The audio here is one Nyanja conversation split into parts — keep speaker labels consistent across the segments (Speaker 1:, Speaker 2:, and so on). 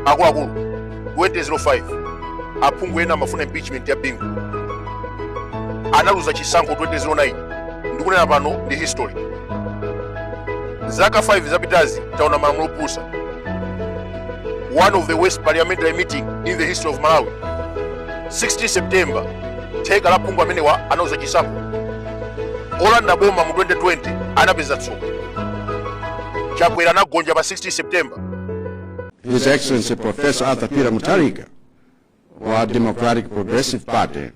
Speaker 1: akuluakulu 2005 aphungu ena amafuna impeachment ya bingu analuza chisankho 2009 ndikunena pano ndi history zaka 5 zapitazi taona malamulo opusa one of the worst parliamentary meeting in the history of malawi 16 september theka la aphungu amenewa analuza chisankho olanda boma mu 2020 anapeza tsoka chakwera anagonja pa 16 september his
Speaker 2: excellency professor arthur peter mutharika wa democratic progressive party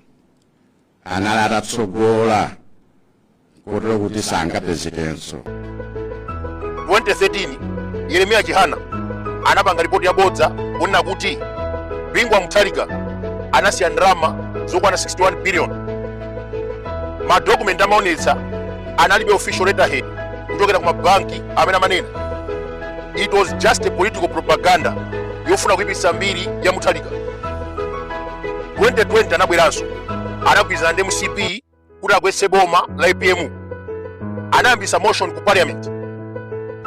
Speaker 2: anali atatsogola kotero kuti sangapezekenso 2013
Speaker 1: yeremiya chihana anapanga ripoti yabodza kunena kuti bingu wa mutharika anasiya ndalama zokwana 61 billion madokumenti amene amaonetsa analibe official letterhead kuchokera ku mabanki amene amanena it was just a political propaganda yofuna kuipitsa mbiri ya muthalika 2020 anabweranso anagwirizana ndi mcp kuti agwetse boma la apm anayambisa motion ku parliament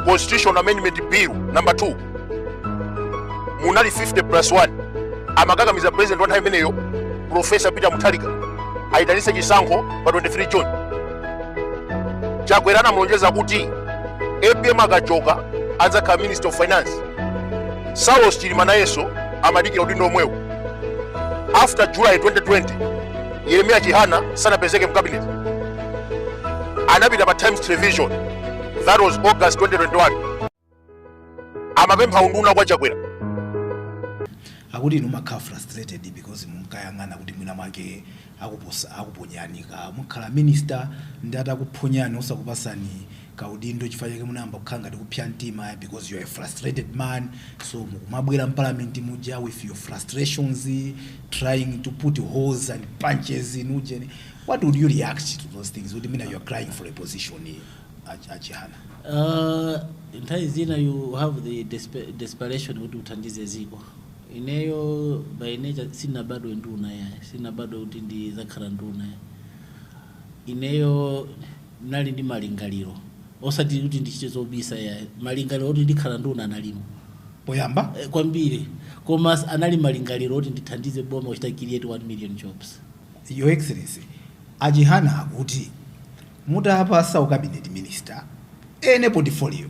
Speaker 1: constitution amendment bill number 2 munali 50 plus 1 amakakamiza president wa nthawi imeneyo profesa peter mutharika ayitanise chisankho pa 23 june chakwera anamulonjeza kuti apm akachoka adzakhala minister of finance saulos chilima nayenso amadikira udindo omwewu after july 2020 yeremiya chihana sanapezeke mcabinet anapita pa times television that was august 2021 amapempha unduna kwa chakwera
Speaker 3: akuti inu makhala frustrated because munkayang'ana kuti mwina mwake akuposa- akuponyani kuti mukhala minister ndi atakuphonyani osakupasani ka udindo chifukwa chake munayamba kukhala ngati kupsa mtima because you are a frustrated man so mukumabwera mparliament muja with your frustrations trying to put holes and punches in ujeni what would you react to those things kuti mwina you are crying for a position eh, ach- achihana Uh, nthawi
Speaker 4: zina you have the despe- desperation kuti uthandize dziko ineyo by nature sindinabadwe nduna yayi sindinabadwe kuti ndizakhala nduna yayi Ineyo ndinali ndi malingaliro osati kuti ndichite zobisa yayi malingaliro oti ndikhala nduna analimo poyamba
Speaker 3: eh, kwambiri
Speaker 4: koma anali malingaliro oti ndithandize boma kuchita create 1 million jobs your
Speaker 3: excellency achihana akuti mutawapatsa u cabinet minister any portfolio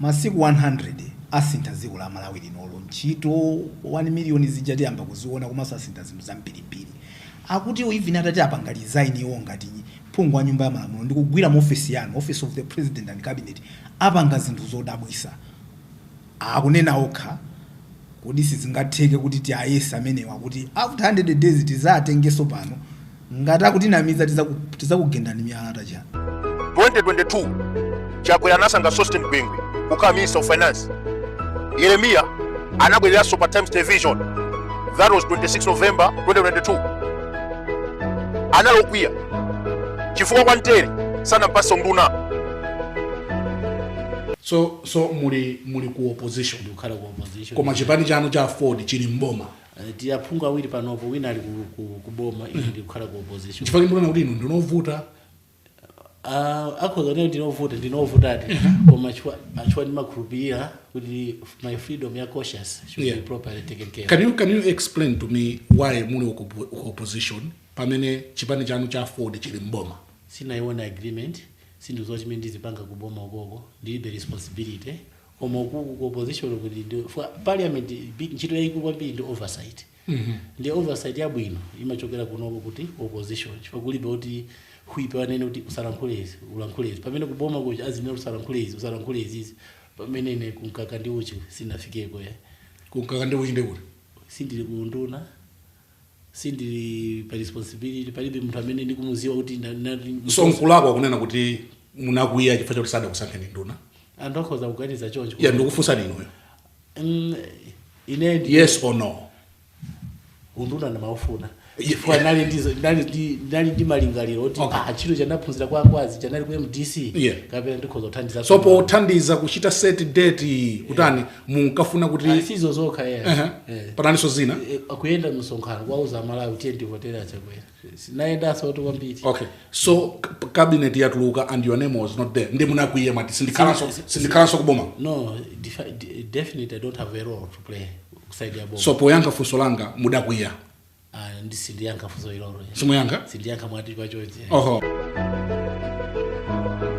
Speaker 3: masiku 100 asintha dziko la malawi linolo ntchito 1 million zija tiyamba kuziona komanso asintha zinthu zambirimbiri Akuti even atati apanga resign iwo ngati phungu wa nyumba ya malamulo ndikugwira mu ofesi yanu, office of the president and cabinet, apanga zinthu zodabwisa. Akunena okha kuti sizingatheke kuti tiayese amenewa kuti after 100 days tizatengeso pano ngati akutinamiza tizakugendani miyala tacha.
Speaker 1: 2022 chakwera anasankha sosten gwengwe kukhala minister of finance yeremiya anabwereranso pa times television that was 26 november 2022 anali okwiya chifukwa kwantere sanampatse
Speaker 5: unduna so so muli muli ku opposition ndikukhala ku opposition
Speaker 4: koma chipani chanu cha
Speaker 5: aford chili mboma Eh, tili aphungu
Speaker 4: awiri panopo wina ali ku- ku- ku boma ine ndikukhala ku opposition chifukwa ndimaona kuti inu ndinu
Speaker 5: ovuta Ah,
Speaker 4: akhoza kuti ndine ovuta ndine ovutadi koma chifukwa- chifukwa ndimakhulupirira kuti my freedom ya conscience should Yeah. be properly taken care of. can you, can you explain
Speaker 5: to me why muli ku ku opposition pamene chipani chanu cha aford chili mboma sindinayione
Speaker 4: agreement sindikudziwa chimene ndizipanga kuboma ukoko ndilibe responsibility koma ukuku ku opposition uku ndi- ndi- fwa- parliament bi- ntchito yayikulu kwambiri ndi oversight ndi oversight yabwino imachokera kunoko kuti ku opposition chifukwa kulibe kuti whip wanena kuti usalankhule izi ulankhule izi pamene kuboma kuja azinena kuti usalankhule izi usalankhule izizi pamene ine kumkaka ndi uchi sinafikeko ya kumkaka ndi uchi
Speaker 5: nde kuti sindili kuunduna
Speaker 4: sindili pa responsibility palibe munthu amene ndikumuziwa kuti nda- nda- so
Speaker 5: nkulakwa kunena kuti munakwiya chifukwa chakuti sadakusankheni nduna anthu akhoza kuganiza
Speaker 4: choncho ya ndikufunsani inuyo
Speaker 5: Mm, ine ndi
Speaker 4: yes or no
Speaker 5: unduna
Speaker 4: ndimaufuna Yeah. chifukwa ndali ndizo- ndali ndi- ndali ndi malingaliro oti Okay. ah, chinthu chanaphunzira kwa akwazi chanali ku mdc Yeah. kapena ndikhoza kuthandiza so pothandiza
Speaker 5: kuchita set date kutani munkafuna kuti Ayi, sizo zokha yeye Ehe.
Speaker 4: Eh.
Speaker 5: pananinso zina Eh, kuyenda
Speaker 4: msonkhano kwauza amalawi tiyeni tivotere achakwera sindinayendenso kuti kwambiri okay so k-
Speaker 5: cabinet yatuluka and your name was not there nde munakwiya mwati sindikhalanso sindikhalanso kuboma no
Speaker 4: defi- de- definitely i don't have a role to play kuside ya boma so poyankha funso langa
Speaker 5: mudakwiya Ah,
Speaker 4: nde sindiyankha funso ilolo simuyankha
Speaker 5: sindiyankha mwati
Speaker 4: pachozi
Speaker 1: oho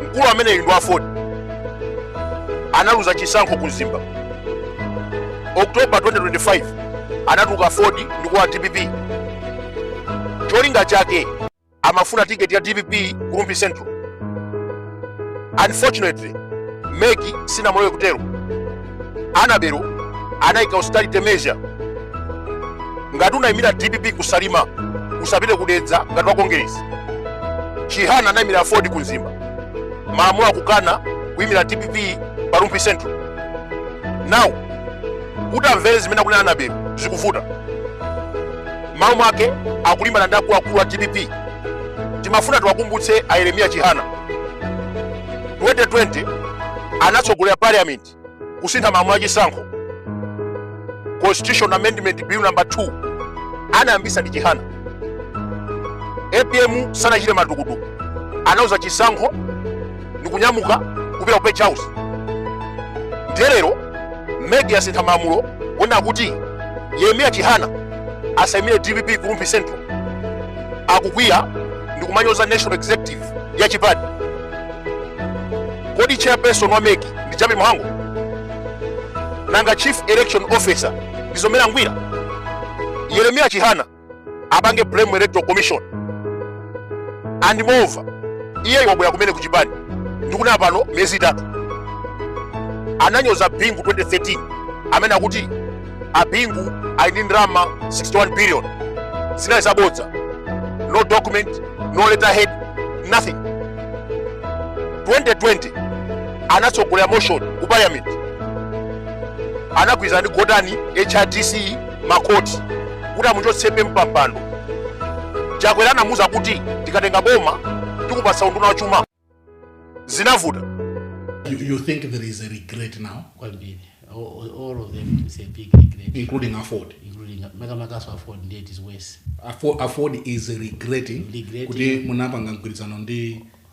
Speaker 1: mkulu ameneyu ndi aford analuza chisankho ku mzimba oktoba 2025 anatuluka aford ndikulowa dpp cholinga chake amafuna tiketi ya dpp ku rumphi central unfortunately mec sinamulole kutero anabelo anayika austerity measure ngati unayimira dpp kusalima usapite kudedza ngati wa kongeresi chihana anayimira aford ku mzimba malamulo akukana kuyimira dpp pa rumphi central now kuti amvere zimene akunena anabeli zikuvuta maomwake akulimbana ndi akuluakulu a dpp timafuna tiwakumbutse a yeremiya chihana 2020 anatsogolera parliament kusintha malamulo a chisankho constitution amendment bill number 2 anayambisa ndi chihana apm sanachite matukutuku analuza chisankho ndikunyamuka kupita ku page house ndiye lero mec yasintha malamulo kuona kuti yeremiya chihana asaimire dpp ku rumphi central akukwiya ndikumanyoza national executive ya chipani kodi chairperson wa mec ndi jappie mhango nanga chief election officer ndi mzomera ngwira yeremiya chihana apange blame electoral commission and moreover iye wabwera kumene kuchipani ndikunena pano miyezi itatu ananyoza bingu 2013 amene akuti abingu ali ndi ndalama 61 billion zinali zabodza no document no letterhead nothing 2020 anatsogolera motion ku parliament anagwirizana ndi gotani hrdc makhoti kuti amuchotse apm pampando chakwera anamuza kuti tikatenga boma tikupasa unduna wa chuma zinavuta
Speaker 5: you, you think there is a regret now
Speaker 4: kwambiri all, all of them is a big regret including
Speaker 5: afford including makamakaso
Speaker 4: afford ndiye it is worse afford, afford is
Speaker 5: regretting kuti munapanga mgwirizano ndi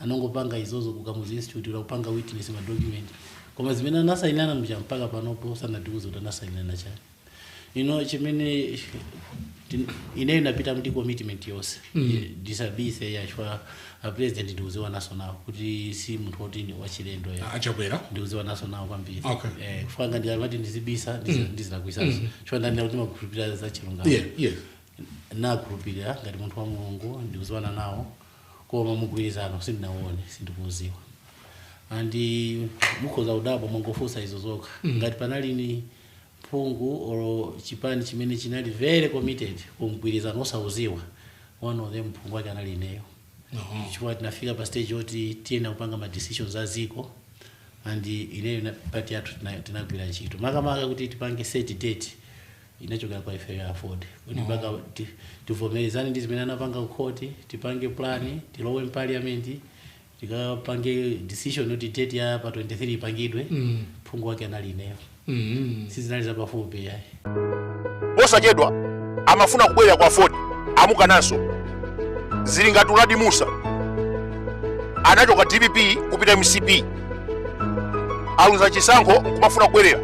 Speaker 4: anangopanga izozo ku kamuzu institute akupanga witness ma document koma zimene anasainana muja mpaka panopo sanatiuze kuti anasainana chani ine chimene tin- ineyo ndinapita ndi commitment yonse disabise ya chifukwa president ndiuziwa naso nawo kuti si munthu woti ni wachilendo ya achakwera ndiuziwana
Speaker 5: naso nawo
Speaker 4: kwambiri Okay. eh, chifukwa ndikamati ndizibisa ndizi- ndizilakwisaso chifukwa ndanena kuti ndimakhulupirira za chilungamo yeah
Speaker 5: yeah
Speaker 4: nakhulupirira ngati munthu wa mulungu ndiuziwana nawo koma mugwirizano sindinauone sindikuudziwa and mukhoza kudabwa mwangofunsa izozo kha mm. ngati panalini phungu or chipani chimene chinali very committed ku mgwirizano osauziwa one of them phungu wake anali ineyo uh-huh. chifukwa tinafika pa stage yoti tiyenera kupanga ma decisions a dziko and ineyo na party yathu tinagwira ntchito makamaka kuti tipange set date inachokera kwa ifeyo aford kuti mpaka ti- tivomerezane ndi zimene anapanga kukhoti tipange plan tilowe mparliament tikapange decision yoti date ya pa 23 ipangidwe phungu wake anali ineyo sizinali zapafupi yayi
Speaker 1: posachedwa amafuna kubwerera ku aford amukananso zili ngati uladi mussa anachoka dpp kupita mcp aluza chisankho nkumafuna kubwerera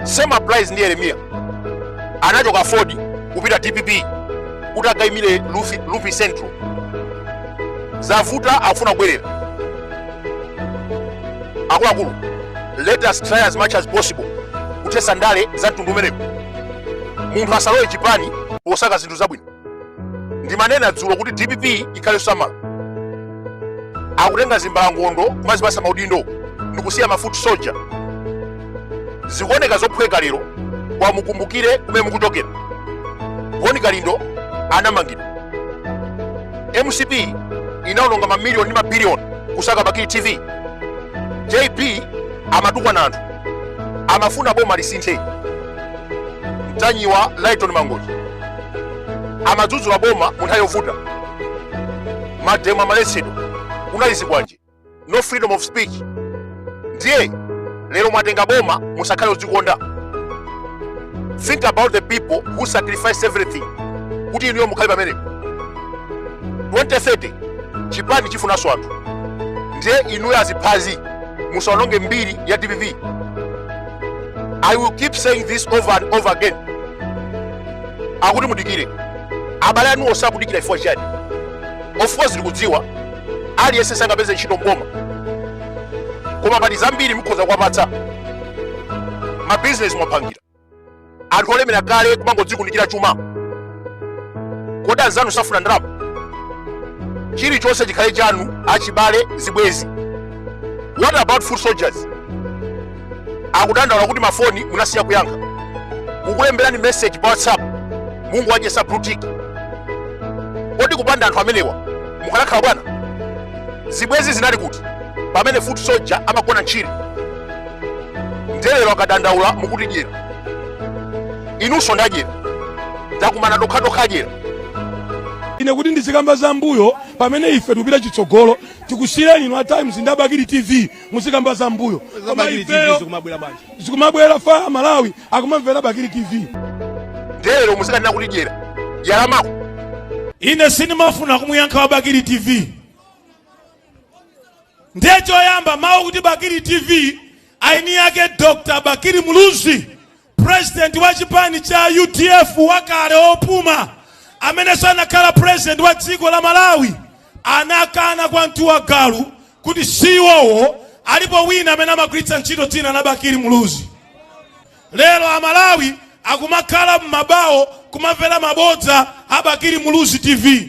Speaker 1: same applies ndi yeremiya anachoka aford kupita dpp kuti akaimire lufi, lufi central zavuta akufuna kubwerera akuluakulu let us try as much as possible kuthesa ndale za mtundu umenewo munthu asalowe chipani posaka zinthu zabwino ndimanena dzulo kuti dpp ikhale samala akutenga zimbalangondo kumazipasa maudindo ndikusiya mafuti soja zikuoneka zophweka lero koma mukumbukire kumene mukuchokera boni kalindo anamangidwa mcp inaononga mamiliyoni ndi mabiliyoni kusaka bakili tv jp amatukwana anthu amafuna boma lisinthe mtanyiwa lighton mangochi amadzudzula boma mu nthawi yovuta mademo amaletsedwa kunali zikwanje no freedom of speech ndiye lero mwatenga boma musakhale odzikonda think about the people who sacrifice everything kuti inuyo mukhale pamenepo 2030 chipani chifunanso anthu ndiye inuyo aziphazi musaononge mbiri ya dpp i will keep saying this over and over again akuti mudikire abale anu osakudikira chifukwa chiyani of course ndikudziwa aliyense sangapeze ntchito mboma koma pali zambiri mukhoza kuwapatsa mabizinesi mwapangira anthu olemera kale kumangodzikundikira chuma kodi anzanu safuna ndalama chilichonse chikhale chanu achibale zibwezi what about foot soldiers akudandaula kuti mafoni munasiya kuyankha mukulemberani message pa whatsapp mungowachesa blue tick kodi kupanda anthu amenewa mukanakhala bwana zibwezi zinali kuti pamene foot soldier amagona ntchire ndelero akadandaula mukuti dyera inunso ndadyera takumana tokhatokha dyera
Speaker 6: ine kuti ndizikamba za mbuyo pamene ife tikupita chitsogolo tikusiyireni inu a times ndi abakili tv muzikamba za mbuyo koma
Speaker 7: ifeyo zikumabowa
Speaker 6: amalawi akumamvera bakili tv ndelero
Speaker 1: muzikanena kuti dyera dyera lamako ine
Speaker 6: sindimafuna kumuyankha wa bakili tv ndiye choyamba mawu kuti bakili tv aini yake dr bakili muluzi president wa chipani cha udf wakale opuma amenenso anakhala president wa dziko la malawi anakana kwa mtuwa galu kuti siwowo alipo wina amene amagwiritsa ntchito dzina la bakili muluzi lero amalawi akumakhala m'mabawo kumamvera mabodza a bakili muluzi tv